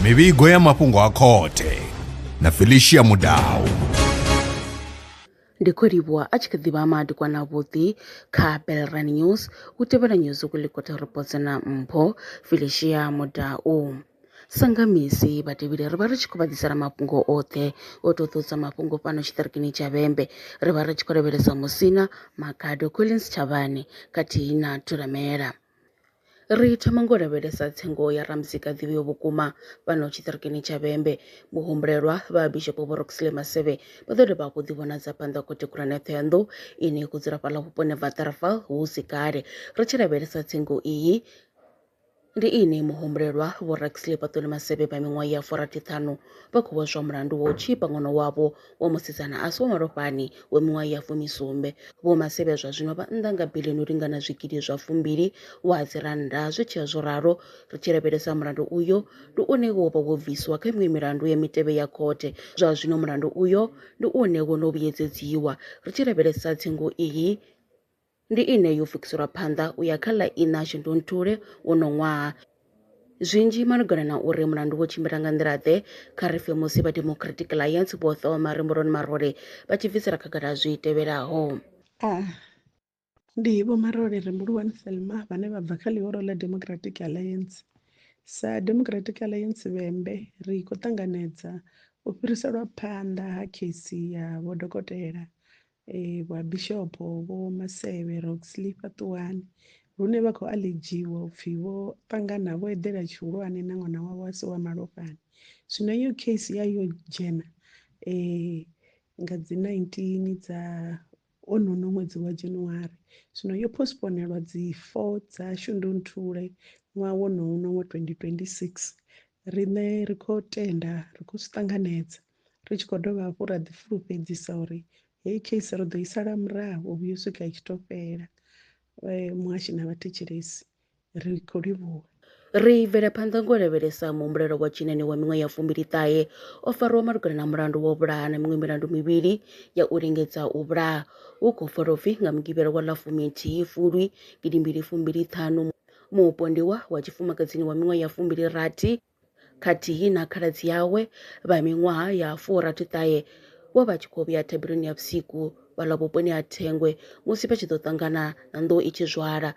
mivhigo ya mafhungo a khothe na felicia mudau ndi khou livhuwa a tshi kha ḓivha madikwana avhuḓi kha belran news u tevhela news ukulikota reports na mpho felicia mudau Sa nga misi, vhatevheli ri vha ri tshi khou vha ḓisela mafhungo oṱhe o ṱoḓulusa mafhungo fhano tshiṱirikini tsha Vhembe. Ri vha ri tshi khou lavhelesa Musina, Makhado, Collins Tshavhane khathihi na Thulamela. Ri thoma nga u lavhelesa tsengo ya Ramuzika a ḓivheaho vhukuma fhano tshiṱirikini tsha Vhembe. Muhumbulelwa vha Bishopo Vho Roxley Maseve vha ḓo dovha hafhu u ḓivhonadza phanḓa ha Khothe Khulwane ya Thohoyanḓou ine ya khou dzula fhaḽa vhuponi ha Waterval hu si kale. Ri tshi lavhelesa tsengo iyi, Ndi inwi muhumbulelwa, Vho Raxley Paṱuli Masebe vha miṅwaha ya furathi-ṱhanu vha khou vhozwa mulandu wa u tzhipa ṅwana wavho wa musidzana a si wa malofhani wa miṅwaha ya fumi-sumbe. Vho Masebe zwa zwino vha nnḓa nga biḽioni u lingana zwigidi zwa fumbili wa dzi rannda. Zwi tshi ya zwo ralo, ri tshi lavhelesa mulandu uyo, ndi une wo vha wo bviswa kha miṅwe milandu ya mitevhe ya khothe. Zwa zwino mulandu uyo ndi une wo no vhuyedzedziwa ri tshi lavhelesa tsengo iyi. Ndi ine yo pfukiselwa phanḓa u ya kha ḽa iṋa shundunthule wono ṅwaha. Zwinzhi malugana na uri mulandu wo tshimbila nga nḓila-ḓe, kha ri pfe musi vha Democratic Alliance vho ṱoma Remboloni Marole vha tshi bvisela khagala zwi tevhelaho. A. Ndi Vho Marole Rembuluwani Thelma vhane vha bva kha ḽihoro ḽa Democratic Alliance. Sa Democratic Alliance Vhembe, ri khou ṱanganedza u fhiriselwa phanḓa ha kheisi ya Vho Dokotela eh, vha bishopo vho masevhe roxley fhaṱuwani lune vha khou aledziwa upfi vho ṱangana vho eḓela tshihulwane na ṅwana wavho a si wa malofhani zwino iyo case ya yo dzhena um nga dzi 19 dza onono ṅwedzi wa january zwino yo postponelwa dzi 4 dza shundunthule ṅwaha wonono wa 2026 riṋe ri khou tenda ri khou zwi ṱanganedza Ri tshi khou dovha hafhu ra ḓifulufhedzisa uri heyi case ri ḓo i sala murahu u vhuya u swika i tshi tou fhela. Muhashi na vhathetshelesi ri khou livhuwa. Ri bvela phanḓa ngo lavhelesa muhumbulelo wa tshinani wa miṅwaha ya fumbili-ṱahe o farwaho malugana na mulandu wa u vhulaha na miṅwe milandu mivhili ya u lingedza u vhulaha hu khou pfala u pfi nga Mugivhela wa ḽa fuminthihi Fulwi gidimbili fumbili-ṱhanu mupondiwa wa tshifumakadzini wa miṅwaha ya fumbili-rathi khathihi na khaladzi awe vha miṅwaha ya furathi-ṱahe vho vha tshi khou vhuya thabeloni ya vhusiku fhaḽa vhuponi ha Thengwe musi vha tshi ḓo ṱangana na nḓou i tshi zwala.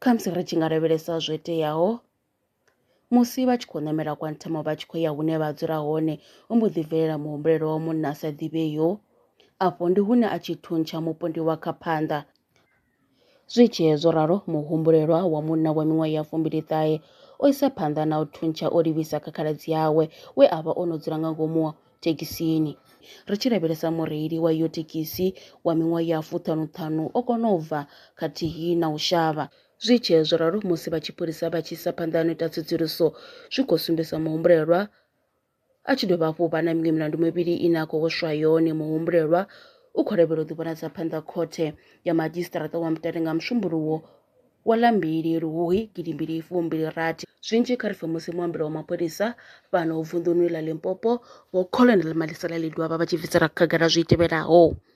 Khamusi ri tshi nga lavhelesa zwo iteaho musi vha tshi khou ṋamela kwa nthamo vha tshi khou ya hune vha dzula hone ho mbo ḓi bvelela muhumbulelo wa munna a sa ḓivheyo afho ndi hune a tshi thuntsha mupondiwa kha phanḓa Zwi tshee zwo ralo, muhumbulelwa wa munna wa miṅwaha ya fumbili-ṱahe o isa phanḓa na u thuntsha o livhisa kha khaladzi awe we a vha o no dzula nga ngomu thekhisini. Ri tshi lavhelesa mureili wa iyo thekhisi wa miṅwaha ya fuṱhanu-ṱhanu o kona u bva khathihi na u shavha. Zwi tshee zwo ralo, musi vha tshipholisa vha tshi isa phanḓa na u ita tsedzuluso, zwi khou sumbedzisa muhumbulelwa A tshi dovha hafhu u vha na miṅwe milandu mivhili ine a khou hweswa yone, muhumbulelwa u khou lavhelwa u ḓivhonadza phanḓa khothe ya madzhisiṱaraṱa wa Mutale nga Musumbuluwo wa ḽa mbili Luhuhi gidi mbili fu mbili rathi. Zwinzhi kha ri pfe musi muambeli wa mapholisa fhano vunḓuni ḽa Limpopo, Vho Colonel Malisela Lidwaba vha tshi bvisela khagala zwi tevhelaho.